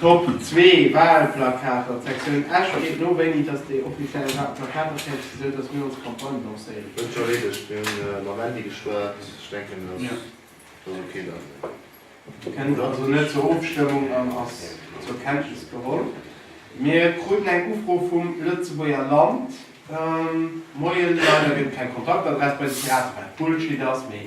Top zwee Wahlplakater, d'Sektioun Esch freet no, wéini datt déi offiziell Wahlplakater fäerdeg sinn, esou datt mir ons Campagne lancéieren Huet scho Redesch kënnen. Mir hunn mam Andy geschwat. Ech denken, datt Ja. datt ok dann ass. Kënnt also net zur Ofstëmmung an ass zur Kenntnis geholl. Mir kruten eng Ufro vum Lëtzebuerger Land. Moien, leider gëtt et keng Kontaktadress bei de Piraten, wat Bullshit ass, mee.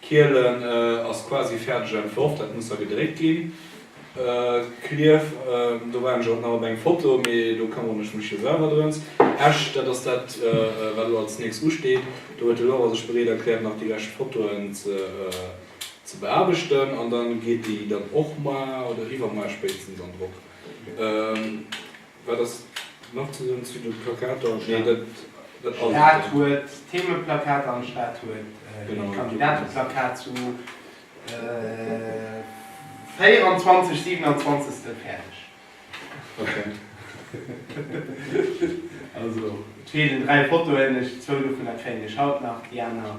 Kielen ass quasi fäerdeg entworf, dat muss da gedréckt ginn. Klierf, do waren ech och nach op eng Foto, mee do këmmeren ech mech jo selwer drëms. Esch, dat ass dat wat elo als nächst usteet. Do huet de Laura sech bereet erkläert nach déi lescht Fotoen ze beaarbechten an da geet déi dann och mar oder iwwermar spéitstens an Drock. Wat ass nach ze soen zu de Plakater? Steet dat dat alt? Stad huet Themeplakater an d'Stad huet e Kandidateplakat zu 24 27 fäerdeg. Ok. Also et feelen dräi Fotoen, zwou dovunner kréien ech haut nach, déi aner.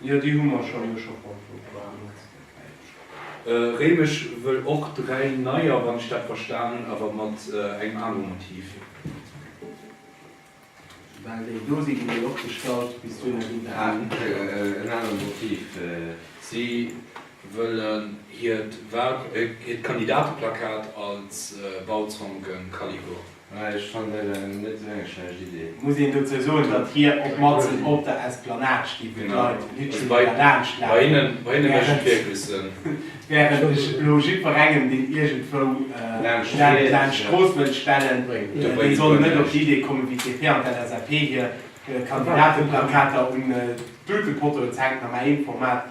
Jo, déi hu mer schonn, hu ech och beantwort. Réimech wëll och dräi neier, wann ech dat verstan hunn, awer mat engem anere Motiv. Well déi do sinn, déi wëll och gestallt bis duerno ginn, dat hunn ech och beantwort. En anere Motiv, si wëllen hiert Kandidateplakat als Bauzonken Kaliber. Mä ech fannen dat eng net esou eng schlecht Idee. Muss een dozou soen, datt hie och matzen op der Esplanade sti, wou d'Leit Lützebuerger laanscht lafen, wärend ech elo jidferengem, deen iergendwou laanscht d'Strooss wëllt stellen, dee soll net op d'Idee kommen, wéi d'DP an d'LSAP hir Kandidateplakater un d'Dutepottoen z'hänken, a mä eent Format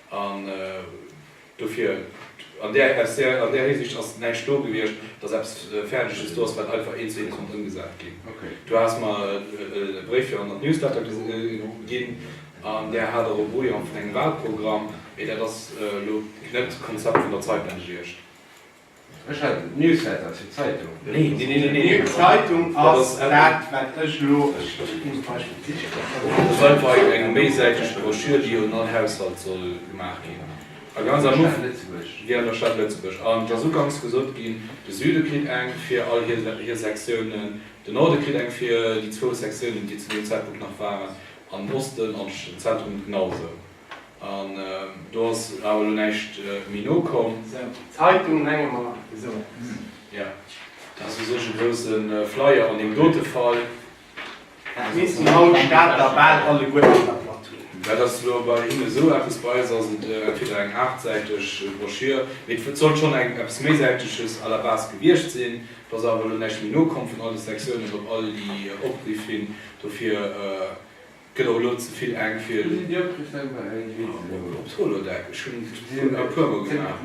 An dofir, an där SR, an där Hisiicht ass näischt do gewiescht, dass eppes Fäerdeges do ass, wat einfach eent, zwee konnt ëmgesat ginn. Du has mer e Bréif fir an der d'Newsletter ginn, an där hat och e Brouillon vun engem Walprogramm, mee dat ass elo net d'Konzept vun der Zeitung gewiescht. Ech hat et Newsletter ass fir Zeitung. Nee nee nee nee nee Zeitung ass dat wat ech elo ech ech muss bei ech et sichen. Ass einfach eng eng méisäiteg Broschür déi un all Haushalt soll gemaach ginn a ganz am Ufang déi an der Stad Lëtzebuerg an et ass uganks gesot ginn de Süde kritt eng fir all hir hir Sektiounen, de Norde kritt eng fir déi zwou Sektiounen déi zu deem Zäitpunkt nach waren an Osten an den Zentrum genau esou. An do ass awer elo näischt méi nokomm. Esou, d'Zeitung hänge mer esou aus. Jo, dat ass u sech e grousse Flyer an deem dote Fall. Dat missten haut d'Stater bal alleguerten der Platt hunn. Dat ass elo bei hinnen esou eppes. Bei eis ass et entweder eng aachtsäiteg Broschür, mee et sollt schonn eng eppes méisäiteges à la base gewiescht sinn. Et ass awer elo näischt méi nokomm vun all de Sektiounen op all déi Opriff hin. Dofir Gëtt och elo ze vill enk fir en Holodeck, ech hunn d'Foto e puer mol gemaach.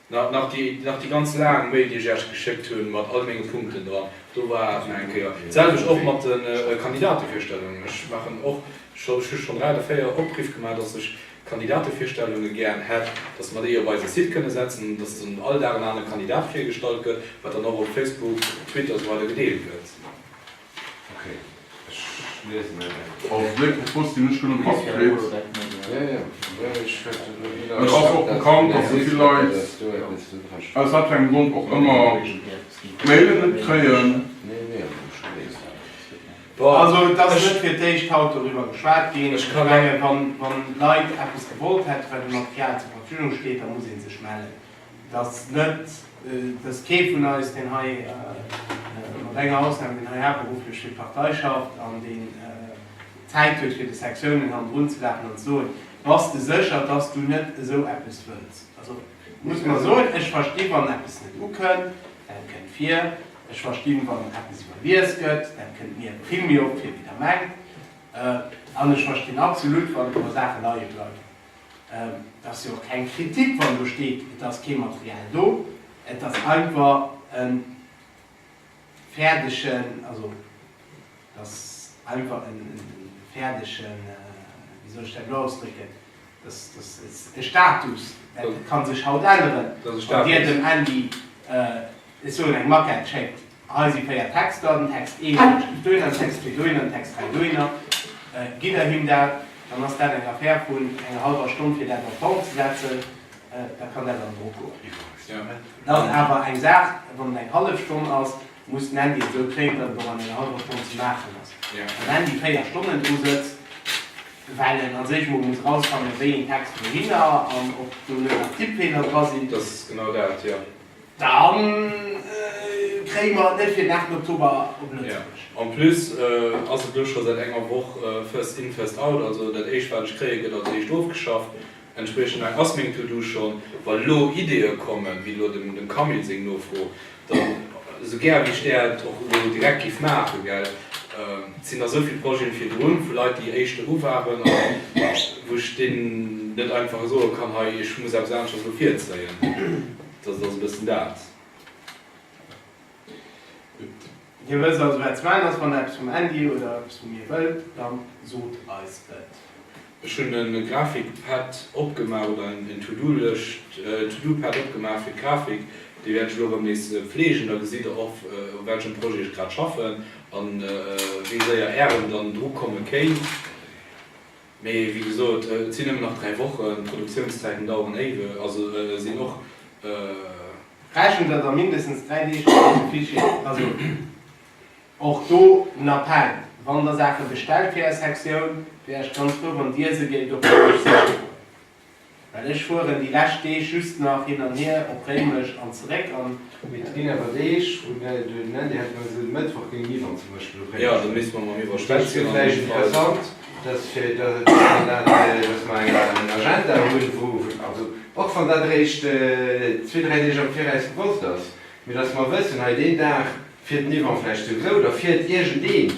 Nach déi ganz laang Mail déi ech Iech geschéckt hunn mat all menge Punkten dran, do war et nach eng Kéier. D'selwecht och mat de Kandidatevirstellungen. Ech maachen och, ech hu schonn dräi oder véier Opriff gemaach, datt ech. Kandidatevirstellunge gären hätt, dass mer déi op eise Site kënne setzen, dass dann all Dag en anere Kandidat virgestallt gëtt, wat dann och op Facebook, op Twitter esou weider gedeelt gëtt. Also et ass net fir d'éischt haut doriwwer geschwat ginn. Ech menge wann Leit eppes gewollt hätten, wat ënner FIAT zur Verfügung steet, da muss ee sech mellen. Et ass net, et ass kee vun eis, deen hei, mat enger Ausnam, deen hei haaptberufflech fir d'Partei schafft an deen Zäit huet fir de Sektiounen hannendrun ze lafen an ze soen, Bass de sécher, dass du net esou eppes wëlls? Also muss mer soen, ech versti wann eppes net ukënnt, dat kënnt vir. Ech verstinn, wann eppes iwwerlies gëtt, dat kënnt mir e Premier op, fir wéi Der mengt. An ech verstinn absolut, wann e puer Saachen leie bleiwen. Et ass jo och keng Kritik, wann do steet, et ass kee Material do. Et ass einfach e fäerdegen, also. dass einfach e fäerdege, wéi soll ech dat elo ausdrécken, dass e Status, dat ka sech haut änneren, wann Dir dem Andy, ech soen, eng Maquette schéckt, hei si véier Texter, den Text 1, dee steet dohinner, den Text 2 dohinner, den Text 3 dohinner, gitt Der him dat, dann ass dat eng Affär vun enger hallwer Stonn, fir dat a Form ze setzen, da kann dat an Drock goen. Et ass awer eng Saach, wann et eng hallef Stonn ass, Muss den Handy esou kréien, datt et och an enger hallwer Stonn ze maachen ass. Wann den Handy 4 Stonnen dru sëtzt, well en als éischt emol muss erausfannen, wéi een Text wouhinner an ob do net nach Tippfeeler dra sinn, Dat ass genau dat, jo. Da kréie mer et net fir den 8 Oktober op Lëtzebuerg. Jo. En plus ass et elo scho säit enger Woch first in, first out. Also dat éischt, wat ech kréien, gëtt als éischt ofgeschafft. Entspriechend laang ass meng To-Do schonn. Wa lo Ideeë kommen, wéi elo dem Camille seng Nofro, dann, esou gär wéi ech där et och elo direkt géif maachen, gell, et sinn nach esou vill Projeten virdrun, vu Leit, déi éischt eru waren a wou ech deenen net einfach soe kann, hei, ech muss eppes aneschters elo virzéien. Dat ass e bëssen dat. Dir wësst also wat zeman ass wann der eppes vum Andy oder eppes vu mir wëllt, dann sot eis et. Ech hun e Grafik Pad opgemaach oder en To Do Lëscht To Do Pad opgemaach fir d'Grafik. Déi wäert ech elo rëm nees pflegen, da gesitt der och u welchem Projet ech grad schaffen an wéi séier ären dann dru komme kéint. Mee wéi gesot, et sinn nëmmen nach 3 Wochen, d'Produktiounszäiten daueren éiwe, also sinn och. Rechent der da mindestens 3 Deeg mat deem Fichier, also och do en Appell, wann der Saache bestellt fir Är Sektioun, wier ech ganz frou, wann Dir se géift op Englësch schicken. Well ech fueren déi lescht Deeg just nach hin an hier op Réimech an zeréck an. Mee et ginn awer Deeg, wou den Andi hat gemengt, esou de Mëttwoch géing Yves an zum Beispill op Réimech fueren. Dat wier vläicht interessant, dass fir dat, dass mer eng Agenda hunn, wou, also och wann dat eréischt zwee, dräi Deeg am Viraus gewosst ass, Mee datt mer wëssen, hei deen Dag fiert den Yvan vläicht souwisou, oder fiert iergendeen,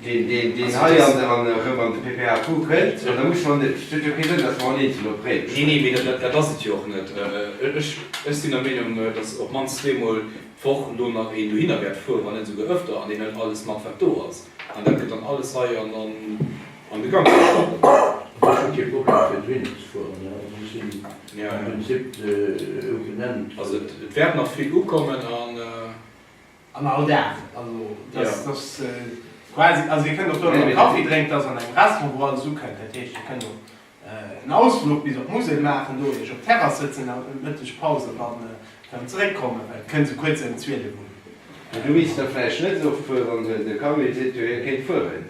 deen hei erëm an de PPAQ kënnt, an da musse mer net, et huet jo kee Sënn, datt mer en eenzel opréiwen. Nee, nee, mee dat ass et jo och net. Ech sinn der Meenung, datt op d'mannst zweemol d'Woch elo nach een dohinner wäert fueren, wann net esouguer öfter, an deen hëlt alles mat, wat do ass, an dat gëtt dann alles hei an de Gang gesat. Ech hu kee Problem, fir dohinner ze fueren. Mir hunn den Site esou genannt. Also et wäert nach vill ukommen an. An all Dag. Also dass dass quasi, also dir kënnt och do nach e Kaffi drénken, dass an engem Restaurant wou alles ukënnt. Dat heescht dir kënnt och en Ausfluch bis op d'Musel maachen, do iech op d'Terrass sëtzen an d'Mëttegpaus an dann erëm zeréckkommen, well et kënnt sou kuerz ëm 12 un. Du misst da vläicht net esou fueren, wann de Camille seet jo hie kéint fueren.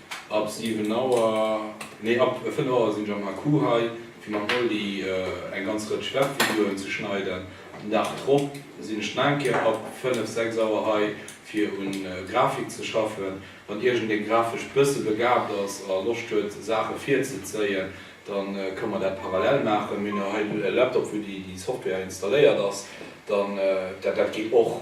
Ab 7 Auer, nee ab 5 Auer sinn ech am HQ hei fir mam Moldy eng ganz Rëtsch Webvideoen ze schneiden. Den Dag drop sinn ech nach eng Kéier ab 5, 6 Auer hei fir un Grafik ze schaffen. Wann iergendeen grafesch bësse begaabt ass a Loscht huet Saache virzezéien, dann ka mer dat parallel maachen. Mir hunn jo hei e Laptop wou déi Software installéiert ass, dann dat geet och.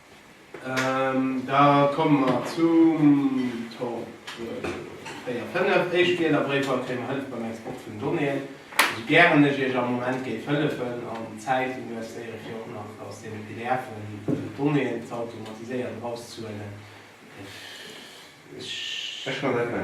Da komme mer zum Top 4, 5. Éischt Wielerbréifer, Kréie mer Hëllef beim Export vun Donnéeën? Esou gären ech Iech am Moment géif hëllefen an d'Zäit investéiere fir och nach aus deene PDFen d'Donnéeën z'automatiséieren, erauszehuelen, ech. Ech kann net, mä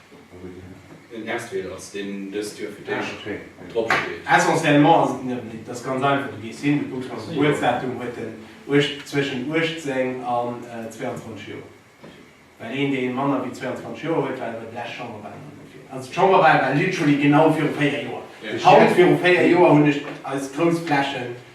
Den Estweel ass deen dëst Joer fir d'éischt drop steet. Essentiellement ass et en Iwwerblick. Et ass ganz einfach, du gees hin, du kucks mat Gebuertsdatum, huet en zwëschen 18 an 22 Joer. Well een dee manner wéi 22 Joer huet, war iwwer d'lescht Chamberwalen an dofir, also d'Chamberwal war literally genau viru 4 Joer, haut viru 4 Joer hunn ech eis grouss Flächen,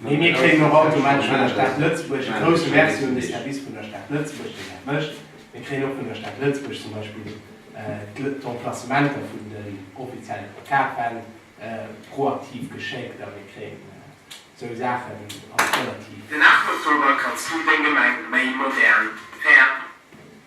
Mee mir kréien och automatesch vun der Stad Lëtzebuerg, e grousse Merci un de Service vun der Stad Lëtzebuerg, deen dat mécht, mir kréien och vun der Stad Lëtzebuerg zum Beispill d'Emplacementer vun den offizielle Plakatwänn proaktiv geschéckt a mir kréien esou Saachen als relativ. Den 8 Oktober kanns du deng Gemeng méi modern, fair.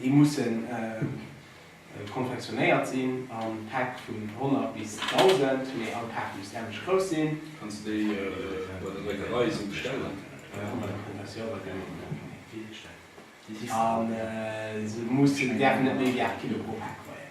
Déi mussen konfektionéiert sinn a Päck vun 100 bis 1.000, mee all Paart muss änlech grouss sinn. Kanns de déi bei der Dréckerei esou bestellen? Se mussen an däerfen net méi wéi 8 Kilo pro Paart weien.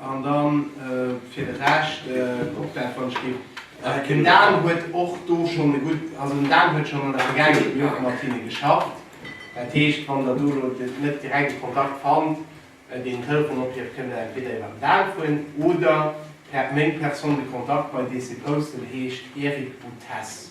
An dann fir de Rescht kuckt dat wann ech ginn. Den Dan huet och do schonn e gutt, also den Dan huet schonn an der Vergaangenheet jo mat hinne geschafft. Dat heescht wann der do elo net direkt e Kontakt fannt, deen en Telefonopierf, kënnt der entweder iwwer den Dan froen oder per meng Personne de contact bei dee se posten heescht Eric Boutesse.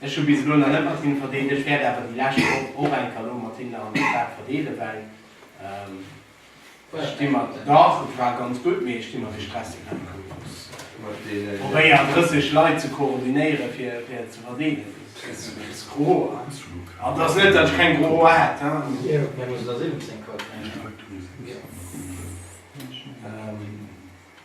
Ech hu bis elo nach net mat hinne verdeelt, ech wäert awer déi lescht Woch och enker elo mat hinne an der Stad verdeele, well ech sti mat, dach et war ganz gutt, mee ech sti mat de stresseg Encours plus probéieren 30 Leit ze koordinéiere fir fir ze verdeelen, dat ass gro, an et ass net datt ech keng gro Hoer hätt hein.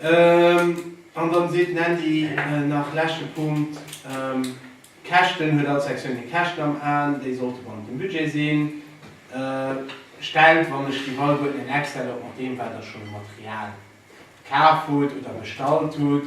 An dann seet den Andy nach leschte Punkt, Käschten, huet all Sektioun hir Käschten am Aen, déi sollte bannent dem Budget sinn. Stellt, wann ech déi Wei huet, en Excel op mat deem wat der schonn u Material kaf hutt oder bestallt hutt.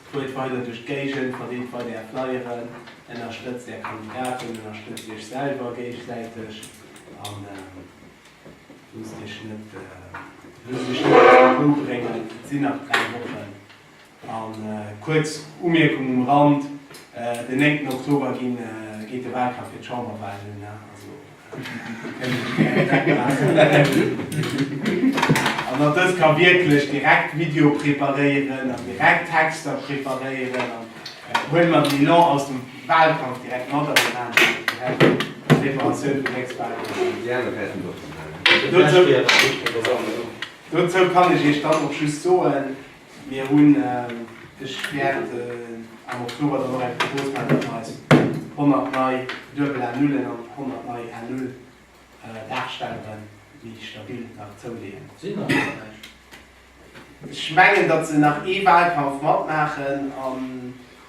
Fuert weider duerch d'Géigend, verdeelt weider Är Flyeren, ënnerstëtzt Är Kandidaten, ënnerstëtzt Iech selwer géigesäiteg a loosst Iech net ewechbréngen. Et sinn nach dräi Wochen. A kuerz Umierkung um Rand, Den 9 Oktober geet de Walkampf fir d'Chamberwalen un. An datt dës ka wierklech direkt Video preparéieren an direkt Texter preparéieren an huele mer den Elan aus dem Wahlkampf direkt mat an déi maachen dat direkt, d'Preparatioun vum nächste Wahlkampf. Dozou kann ech Iech dann och just soen, Mir hunn sech wäert am Oktober dann och eng Propos gemaach, datt mer eis 100 nei duebel A Nullen an 100 nei A Null Darstelleren, déi stabil, nach zouleeën. Sinn nach net eppes? Ech mengen, datt se nach ee Wahlkampf matmaachen an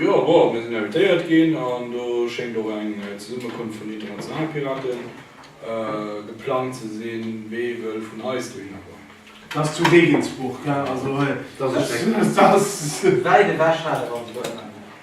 Jo, bon, mir sinn invitéiert ginn an do schéngt och eng Zesummekunft vun den internationale Piraten geplangt ze sinn. Wee wëll vun eis dohinner kommen? Dat ass zu Regensburg, also dat ass wäit ewech.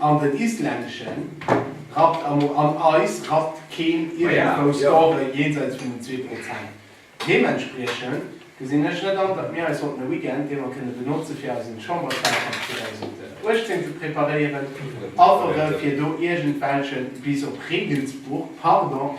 An den isländeschen rappt am Mo an eis rappt keen iergendwou Score jenseits vun den zwee Prozent. Deementspriechend gesinn ech net an, datt mir eis sollten e Weekend, dee mer kënne benotze fir eisen Chamberswahlkampf 2018 ze preparéieren, awere fir do iergendwelche, bis op Regensburg, pardon,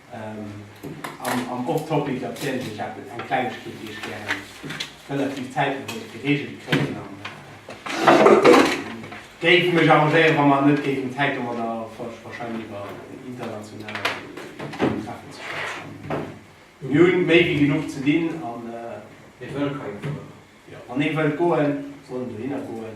Am Off Topic erzielen ech eppes, eng Klengegkeet déi ech gären relativ zäitno wëllt gereegelt kréien an géif mech arrangéieren wa mer net géifen Zäit domadder verscheinen iwwer international Treffen ze schwätzen. Mir hunn méi wéi genuch ze dinn an mir wëlle kei Kuer. Wann ee wëllt goen, soll en dohinner goen.